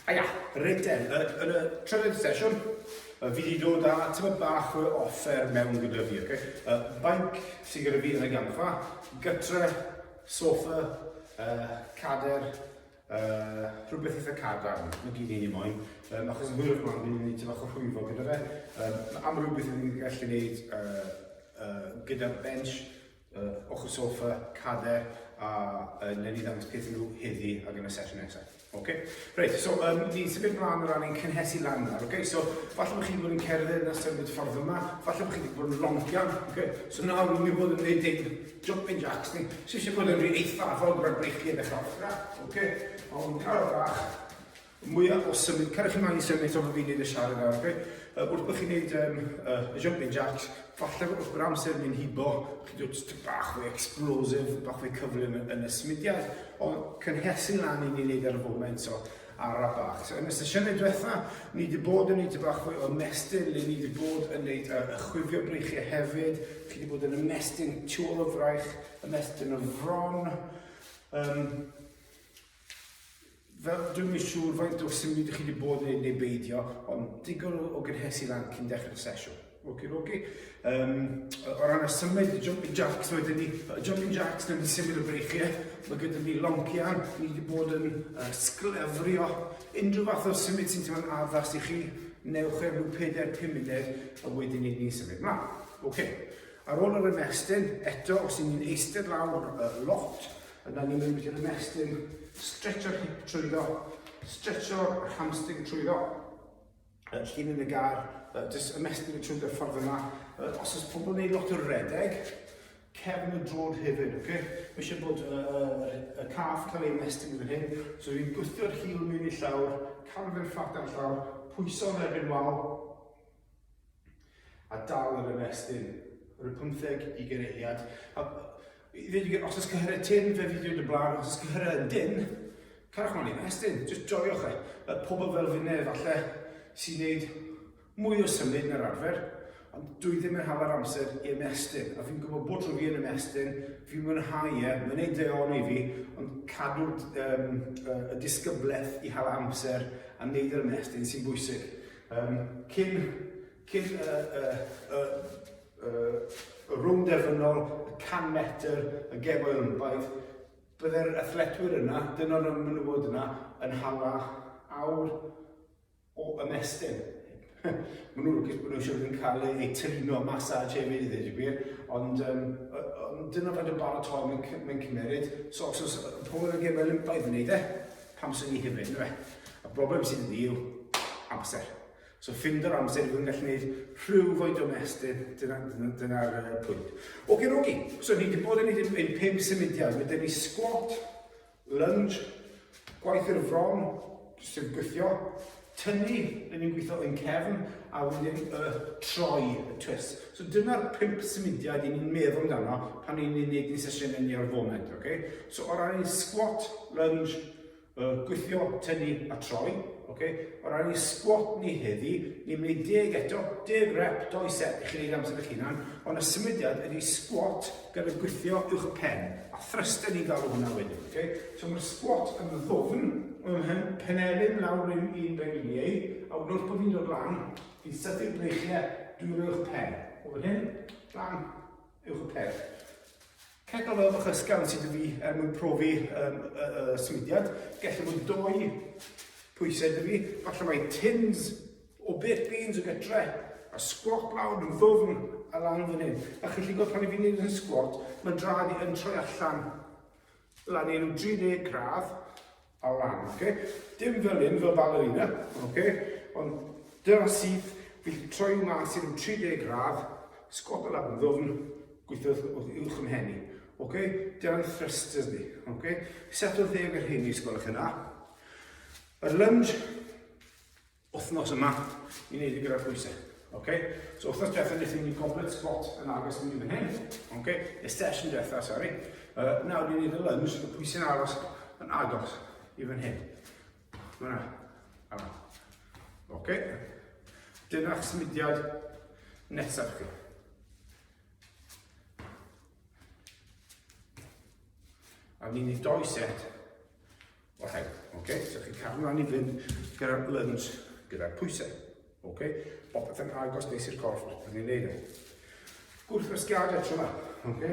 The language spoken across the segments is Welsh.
Haia! Reit te, yn y, yn y trydydd sesiwn, uh, fi wedi dod â tyma bach o offer mewn gyda fi, okay? Uh, bainc sy'n gyda fi yn y gampfa, gytre, sofa, uh, cader, Uh, rhywbeth eitha cadarn, mae gen i ni moyn, um, achos yn hwyrach mlaen, ni'n mynd i ti fach o rhwyfo gyda fe. Um, am rhywbeth ni'n gallu gwneud uh, uh, gyda'r bench, uh, ochr sofa, cader, a uh, newn ni ddangos peth nhw heddi ac yn y sesiwn nesaf. Okay. Reit, so um, ni symud mlaen o ran ein cynhesu lan nawr. Okay? So, falle bod chi wedi bod yn cerdded yn ystod y ffordd yma, falle bod chi wedi bod yn longian. Okay? So nawr, ni'n bod yn gwneud Jumping jacks ni. Sy'n sy'n bod yn rhi eithafol gyda'r breichiau yn dechrau offra. Oce, a hwn yn arfer bach. Mwyaf o symud, cael chi maen i symud to fy fi'n neud y siarad nawr, oce? Uh, wrth bod chi'n neud um, uh, y jumping jacks, falle wrth bod amser yn hibo, chi dod just bach fwy explosive, bach fwy cyflym yn, yn y symudiad, ond cynhesu lan i ni'n neud ar y foment, so arafach. So, yn y sesiynau diwetha, ni wedi bod yn gwneud y bach fwy o ymestyn, le ni wedi bod yn gwneud uh, ychwifio breichiau hefyd, chi wedi bod yn ymestyn tu ôl o fraich, ymestyn o fron. Um, fel dwi'n mynd siŵr faint o symud ydych chi wedi bod yn ei neu beidio, ond digon o, o gynhesu lan cyn dechrau'r sesiwn. Oki doki. Um, o ran y symud, y jumping jacks wedyn ni, y jumping jacks dyn ni symud y breichiau, mae gyda ni loncian, ni wedi bod yn uh, sglefrio unrhyw fath o symud sy'n teimlo'n addas i chi, newch e rhyw 4-5 munud, a wedyn ni ni symud mlaen. Oce, okay. ar ôl yr ymestyn, eto os y'n ni'n eistedd lawr uh, lot, yna ni'n mynd i'r ymestyn, stretcho'r hip trwyddo, stretcho'r hamstring trwyddo, uh, llun yn y gar, uh, jyst ymestyn y trwy'r ffordd yma. Uh, os oes pobl yn gwneud lot o redeg, cefn y drod hefyd, oce? Okay? Mae eisiau bod y, uh, uh, uh, caff cael ei ymestyn yn hyn, so dwi'n gwythio'r hil mewn i llawr, cael fe'r ffat ar llawr, pwyso yn erbyn wal, a dal yr ymestyn. Yr y pymtheg i gereiad. A, Os ys cyhyrau tin, fe fi dweud y blaen, os ys cyhyrau yn din, carwch mlaen i'r estyn, jyst joiwch e. Y pobl fel fi neu falle sy'n gwneud mwy o symud na'r arfer, ond dwi ddim yn hala'r amser i ymestyn, a fi'n gwybod bod trwy fi yn ymestyn, fi'n mwynhau e, mae'n ei deon i fi, ond cadw um, y disgyblaeth i hala amser a wneud yr ymestyn sy'n bwysig. Um, cyn Cyn y, y, y, y, y rwng derfynol, y 100 metr, y gem o'i lymbaeth, byddai'r athletwyr yna, dyn o'n ymwneud yna, yn hala awr o ymestyn. Mae nhw'n lwcus bod nhw'n siŵr yn cael eu trino masaj hefyd i ddweud y gwir, ond um, on, dyna faint o baratoi mae'n mae cymeryd. So os oes pobl yn gefel yn baedd yn ei dde, pam sy'n ni hefyd, yna fe. Y broblem sydd wedi yw amser. So ffind yr amser dwi'n gallu gwneud rhyw foed o mestyn, dyna'r dyna, dyna uh, pwynt. Oce, okay, rogi, so ni wedi bod yn gwneud ein pum symudiad, mae ni squat, lunge, gwaith i'r fron, sy'n gwythio, tynnu, yn ni'n gweithio yn cefn, a wedyn y troi, y twist. So dyna'r pump symudiad i ni'n meddwl amdano pan ni'n gwneud ni sesiynau ni ar y foment, oce? Okay? So o ran squat, lunge, Y gwythio, tynnu a troi. Okay. O ran i sgwat ni heddi, ni'n mynd i deg eto, deg rep, doi set i chi wneud amser eich hunan, ond y symudiad ydy sgwat gan y gwythio uwch y pen, a thrysten ni'n galw hwnna wedyn. Okay. So mae'r sgwat yn ddofn, mae'n penelyn lawr un un rhaid i ei, a wrth bod fi'n dod lan, fi'n sythu'r breichiau drwy'r uwch pen. O fan hyn, lan, uwch y pen. Ceffyl fel ochr ysgafn sydd wedi fi er mwyn profi um, y, y, y swydiad. Gellid bod dwy pwysau dy fi. Falle mae tins o bit beans o gytre a squat lawr yn ddwfn a lan fan hyn. A chi'n lli gweld pan i fi'n neud yn squat, mae drad i yn troi allan lan i rhyw 30 gradd, Ar lan, oce? Dim fel hyn, fel ballerina, oce? Ond dyna sydd, fi troi mas i'r 30 gradd, sgwat y lafn ddofn, gweithio wrth uwch yn henni. Oce? Dyna'n thrusters ni, oce? Set o ddeg yr hyn i sgwelwch yna. Yr lunge, wythnos yma i wneud i gyda'r pwysau. Okay? So wythnos diwethaf nes i ni goblet spot yn agos i ni fan hyn. Okay? Y session diwethaf, sori. Uh, nawr ni'n neud y lunge, y pwysau'n aros yn agos i fan hyn. Fyna. Yma. Okay? Dyna symudiad nesaf chi. A ni'n neud doi set Oce, okay. so chi'n cadw lan i fynd gyda'r lunge, gyda'r pwysau. Ok, popeth yn agos nes i'r corff, rydyn ni'n neud e. Gwrthwasgiadau tro yma, ok?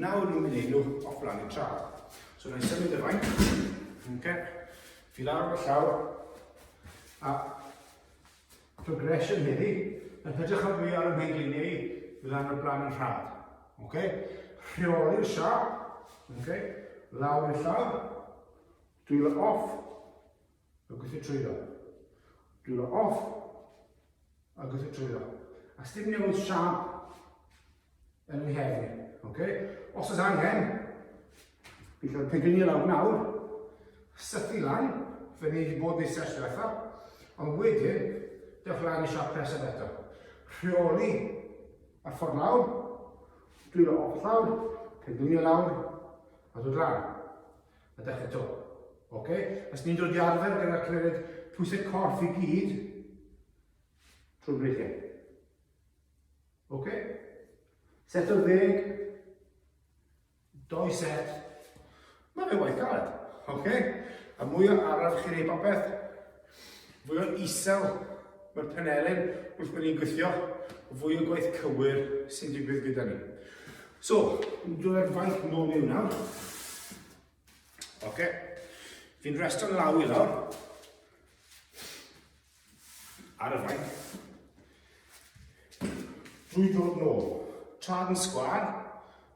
Nawr ni'n mynd i nhw o flan i'r tra. So ni'n symud y fain, ok? Fi lawr o'r llawr, a progression heddi, yn hytrach o drio ar y mhen gliniau i lan o'r blaen yn rhad. Okay? Rheoli'r siap, okay? lawr i'r llaw, dwylo off, a gweithio trwyddo. Dwylo off, a gweithio trwyddo. A stym newid siap yn ei hefn. Okay? Os oes angen, fi cael pigyn i lawr nawr, sythu lan, fe wneud i bod fi sers diwetha, ond wedyn, dewch lan i siap presaf eto. Rheoli y ffordd lawr, dwi'n dwylo off lawr, pigyn i lawr, a dod lan. A dechrau to. Okay? Os ni'n dod i arfer gyda'r cymeriad pwysau corff i gyd, trwy'r breichiau. Ok? Set o ddeg, doi set, mae fe waith galed. Ok? A mwy o araf chi'n ei bopeth, fwy o isel mae'r penelin wrth bod ni'n gweithio, fwy o gwaith cywir sy'n digwydd gyda ni. So, yn dod ar faith nôl mewn nawr. Ok? Fi'n resto'n law i lawr. Ar y fainc. Drwy ddod nôl. Trad yn sgwar.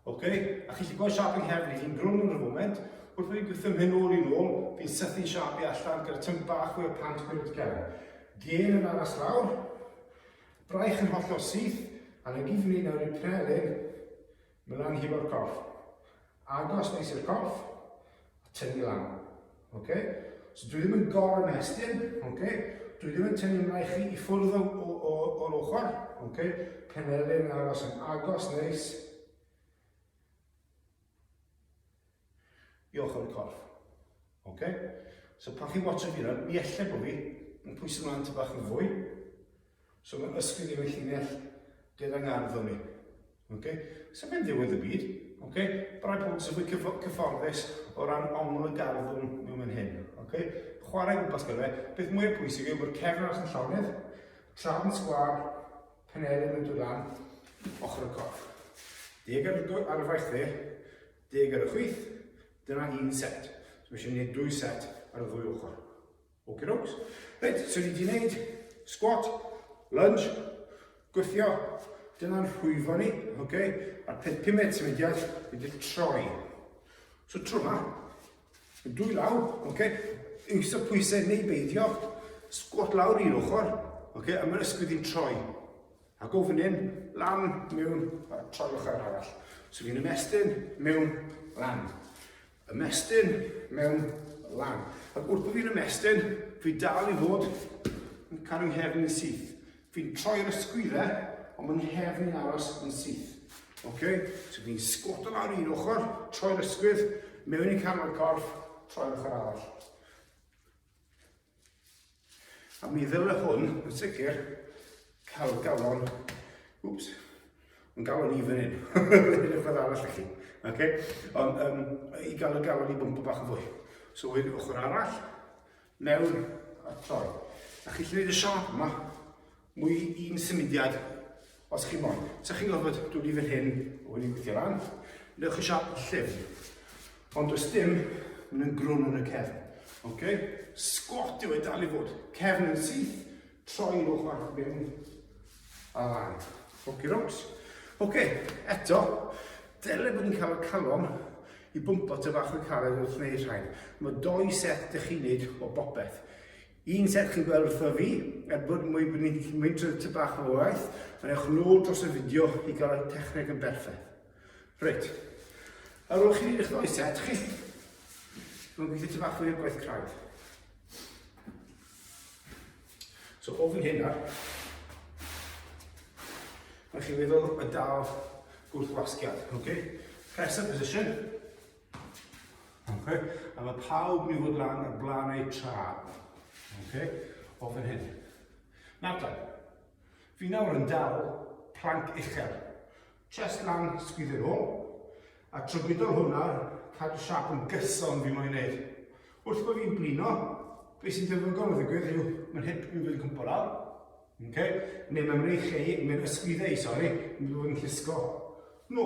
Ok, a chi chi gweld siap yng nghefn i, fi'n grwn yn y foment, wrth fi gwthym hyn ôl i'n ôl, fi'n sythu siap i allan gyda tymp bach o'r pant mewn i'r gefn. Gen yn aros lawr, braich yn hollol syth, a na gyd fi'n ei nawr i'r prelyn, Mlaen hefo'r corff. Agos neis i'r corff. A tynnu lan. Okay? So dwi ddim yn gor ymestyn. Okay? Dwi ddim yn tynnu mlaen chi i ffwrdd o'r ochr. Okay? Penelyn yn aros yn agos neis. I ochr y corff. Ok? So pan chi'n watch y mirror, mi elle bod fi yn pwysyn lan ty bach yn fwy. So mae'n ysgyn i fy llinell gyda ngardd o mi. Ok? So mae'n ddiwedd y byd. Ok? But I pob sy'n fwy cyfforddus o ran ongl y garddwn mewn mynd hyn. Ok? Chwarae gwmpas gyda fe. Beth mwyaf pwysig yw bod cefn arall yn llawnedd, trafn sgwar, penelyn yn dod lan, ochr y corff. Deg ar y faith dde, Deg ar y chwith, dyna un set. So mae eisiau gwneud dwy set ar y ddwy ochr. Ok dogs. Reit, so ni wedi gwneud squat, lunge, gwythio, dyna'n rhwyfo ni, ok? A'r peth pumed sy'n mynd iach ydy'r troi. So tro yma, yn dwy law, ok? Yngysa pwysau neu beidio, squat lawr i'r ochr, ok? A mae'n ysgwydd i'n troi. A gofyn lan mewn a troi ochr arall. So fi'n ymestyn mewn lan. Ymestyn mewn lan. Ac wrth bod fi'n ymestyn, fi dal i fod yn cael yng nghefn yn syth. Fi'n troi ar y sgwydde, ond mae'n nghefn yn aros yn syth. Okay? So fi'n sgwto lawr un ochr, troi'r ysgwydd, mewn i canol corff, troi'r ochr arall. A mi ddyle hwn, yn sicr, cael galon, wps, yn galon i fan hyn, yn y ffordd arall chi. Okay? Ond um, i gael y galon i bwmpa bach yn fwy. So wedyn ochr arall, mewn a troi. A chi llyfyd y siop yma, Mwy un symudiad, os chi moyn. Sa chi'n gorfod dod i fan hyn, o hyn i'n gweithio lan. Newch chi siap llyfn. Ond os dim, maen nhw'n grwn yn y cefn. Okay? Sgwat yw e dal i fod. Cefn yn syth, troi yn ochr arall mewn. A lan. Oce, rocs. Oce, eto, dyle bod yn cael y calon i bwmpo ty fach o'r caled wrth wneud rhaid. Mae doi set ydych chi'n neud o bopeth. Yn serch y gwely wrtho fi, er bod mwy mwyntr ty bach o waith, ond ewch nôl dros y fideo i gael y techneg yn berffaith. Reit, ar ôl chi eich ddau set chi, mae'n gweithio ty bach o'r gwaith craidd. So ofyn hyn ar, mae chi feddwl y dal gwrthwasgiad, ok? Press up position, Okay? A mae pawb ni fod lan ar blaen eu tra. Okay? O fan hyn. Nawr da, fi nawr yn dal planc uchel. Chest lan, sgwyddo nhw, a trygwydo hwnna, cadw siap yn gyson fi moyn neud. Wrth bod fi'n blino, beth sy'n defnyddiol o ddigwydd yw, mae'n hip fi'n fyddi'n cwmpo lawr, okay? neu mae'n mynd i chi, mae'n ysgwyddo i, sori, mae'n mynd i'n llusgo. No,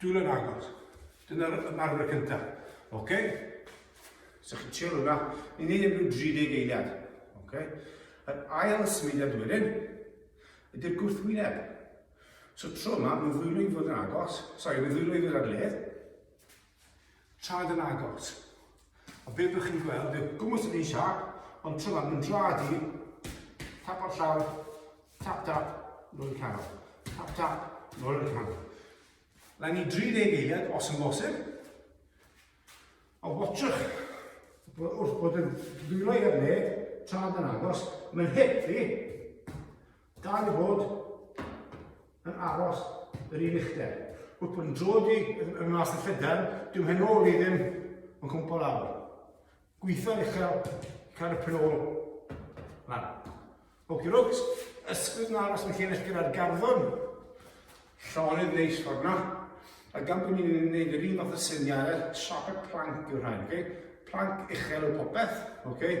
Dwylo yn agos. Dyna'r ymarfer cyntaf. Oce? So chi'n trio hwnna. Ni'n neud e'n rhyw 30 eiliad. Oce? Yr ail symudiad wedyn ydy'r gwrthwyneb. So tro yma, mae'n ddwylo i fod yn agos. Sorry, mae'n ddwylo i fod ar led. Traed yn agos. A be byddwch chi'n gweld yw gwmwys yn eisiau, ond tryfan yn draed i, tap o'r llawr, tap tap, nôl i'r canol, tap tap, nôl i'r canol. Lan i 30 eiliad os yn bosib, a watchwch bod wrth bod yn dwylo i'r le, traed yn agos, mae'n hip fi, Dau fod yn aros yr un uchder. Wrth bod yn drod i yn mas y llydan, dwi'n hyn ôl i ddim yn cwmpo lawr. Gweithio'n uchel, cael y pen ôl lan. Oki rogs, ysgwyd yn aros yn lle nes gyda'r garddon. Llonydd neis ffordd na. A gan bod ni'n gwneud yr un fath o syniad, trafod planc yw'r rhain, okay? Planc uchel o popeth, okay?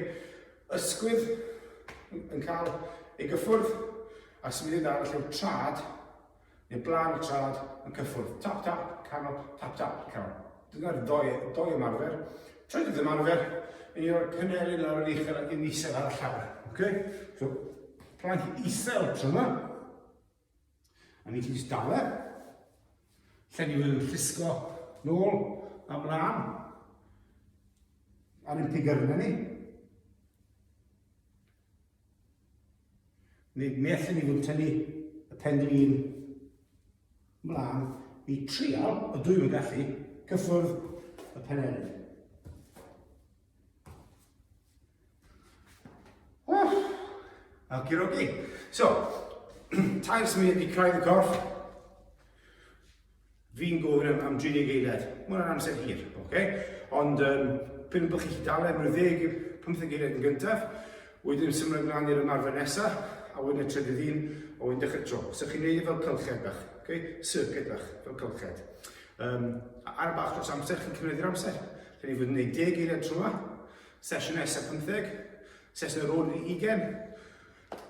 Ysgwydd yn cael ei gyffwrdd a symudedd arall yw'r trad, neu blaen y trad yn cyffwrdd. Tap tap, canol, tap tap, canol. Dyna'r doi, doi ymarfer. Trydydd ymarfer, yn i'r cynelyn ar yr uchel ac yn isel ar y llawr. Okay? So, planc isel tro yma. A ni ti'n stawer. Lle ni wedi llusgo nôl a mlaen. Ar un pig arna ni. Ni, ni allan ni fod tynnu y pendil un mlaen i trial, y dwy yn gallu, cyffwrdd y penelyn. Okie dokie. So, tair sy'n mynd i craidd y corff. Fi'n gofyn am, am 30 eiliad. Mae'n yna'n amser hir, oce? Okay? Ond, um, pyn bych chi dal am rhyw 10, 15 eiliad yn gyntaf, wedyn symud ymlaen i'r ymarfer nesaf, a wedyn y trydydd un, a wedyn dechrau tro. So chi'n neud e fel cylched bach, okay? circuit bach, fel cylched. Um, ar y bach dros amser, chi'n cymryd i'r amser. Rhaid i fod yn 10 geiriau tro yma. Sesiwn nesaf 15, sesiwn ar ôl yn 20.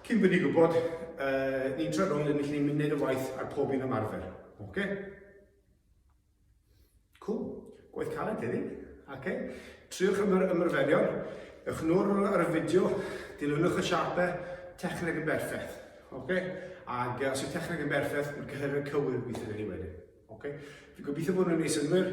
Cyn bod ni'n gwybod, uh, ni'n troi rownd yn ni'n mynd wneud y waith ar pob un ymarfer. Oce? Okay? Cool. Gwaith caled heddi. Oce? Okay? Triwch am yr ymarferion. Ewch nôl ar y fideo, dilynwch y siapau, techneg yn berffaith. Oce? Okay? Ac uh, os yw techneg yn berffaith, mae'n cyhyrau cywir gweithio ni wedyn. Oce? Okay? Fi'n gobeithio bod nhw'n ei synwyr.